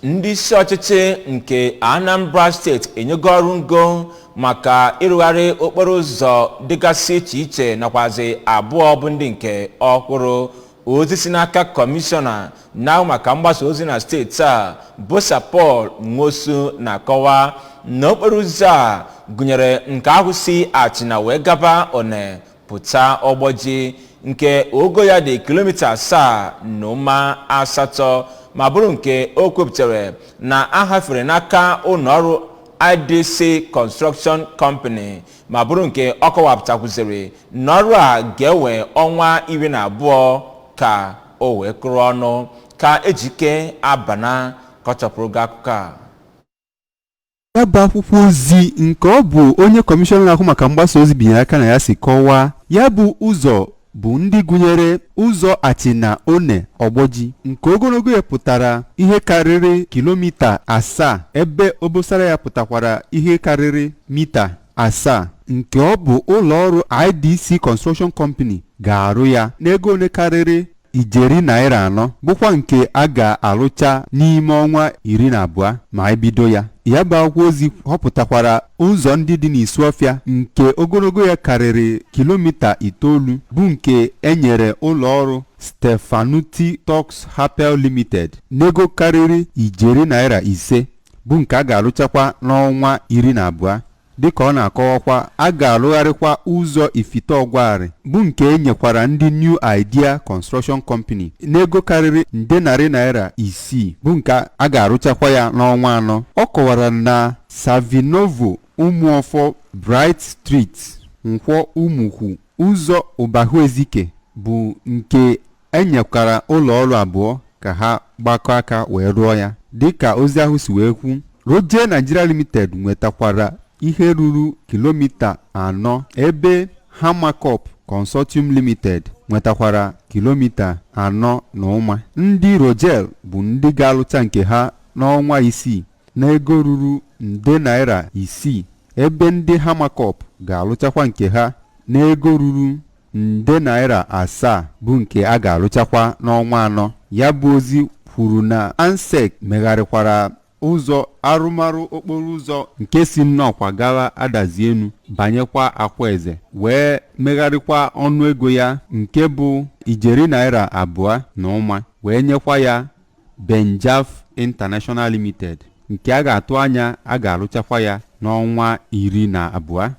ndị isi ọchịchị nke anambra steeti enyego ọrụ ngo maka ịrụgharị okporo ụzọ dịgasị iche iche nakwazi abụọ bụ ndị nke ọhụrụ ozi si n'aka kọmishọna na-ahụ maka mgbasa ozi na steeti a bụ Sir Paul Nwosu na-akọwa na okporo ụzọ a gụnyere nke ahụ si achịna wee gaba one pụta ọgbọji nke ogo ya dị kilomita asaa na ụma asatọ ma bụrụ nke o kwupụtara na a hafere n'aka ụlọọrụ idc construction company ma bụrụ nke ọ kọwapụtakwuziri na ọrụ a ga-ewe ọnwa iri na abụọ ka o wee kụrụ ọnụ ka ejike abana kọchapụrụ gị akụkọ a ya bụ akwụkwọ ozi nke ọ bụ onye kọmishọna na-ahụ maka mgbasa ozi binyere aka na ya si kọwaa ya bụ ụzọ bụ ndị gụnyere ụzọ achịna one ọgbọji nke ogologo ya pụtara ihe karịrị kilomita asaa ebe obosara ya pụtakwara ihe karịrị mita asaa nke ọ bụ ụlọ ọrụ IDC Construction Company ga-arụ ya n'ego ole karịrị ijeri naira anọ bụkwa nke a ga-arụcha n'ime ọnwa iri na abụọ ma e bido ya ya bụ akwụkwọ ozi họpụtakwara ụzọ ndị dị n'Isuọfịa nke ogologo ya karịrị kilomita itoolu bụ nke e nyere ụlọ ọrụ Stefanutti Stocks Hapel Limited n'ego karịrị ijeri naira ise bụ nke a ga-arụchakwa n'ọnwa iri na abụọ dịka ọ na-akọwakwa a ga-arụgharịkwa ụzọ ifite ọgwarị bụ nke e nyekwara ndị New Idea Construction Company n'ego karịrị nde narị naira isii bụ nke a ga-arụchakwa ya n'ọnwa anọ ọ kọwara na Savinovo Ụmụọfọ Bright Street Nkwọ Ụmụkwu ụzọ Ụbahuezike bụ nke E nyekwara ụlọ ọrụ abụọ ka ha gbakọ aka wee rụọ ya. Dịka ozi ahụ si wee kwu, Rojel Nigeria Limited nwetakwara ihe ruru kilomita anọ ebe Hammakopp Consortium Limited nwetakwara kilomita anọ na ụma. Ndị Rojel bụ ndị ga-alụcha nke ha n'ọnwa isii n'ego ruru nde naira isii ebe ndị Hammakopp ga-alụchakwa nke ha n'ego ruru nde naira asaa bụ nke a ga-alụchakwa n'ọnwa anọ ya bụ ozi kwuru na ansec megharịkwara ụzọ arụmarụ okporo ụzọ nke si nnọkwa gawa adazi enu banyekwa akwaeze wee megharịkwa ọnụ ego ya nke bụ ijeri naira abụọ na ụma wee nyekwa ya benejaf international limited nke a ga-atụ anya a ga-arụchakwa ya n'ọnwa iri na abụọ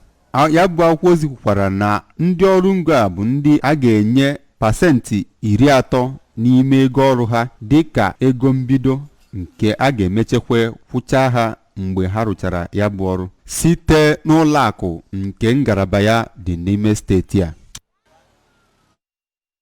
Ya bụ akwụkwọ ozi kwukwara na ndị ọrụ ngo a bụ ndị a ga-enye pasentị iri atọ n'ime ego ọrụ ha dị ka ego mbido nke a ga-emechekwa kwụchaa ha mgbe ha rụchara ya bụ ọrụ site n'ụlọ akụ nke ngalaba ya dị n'ime steeti a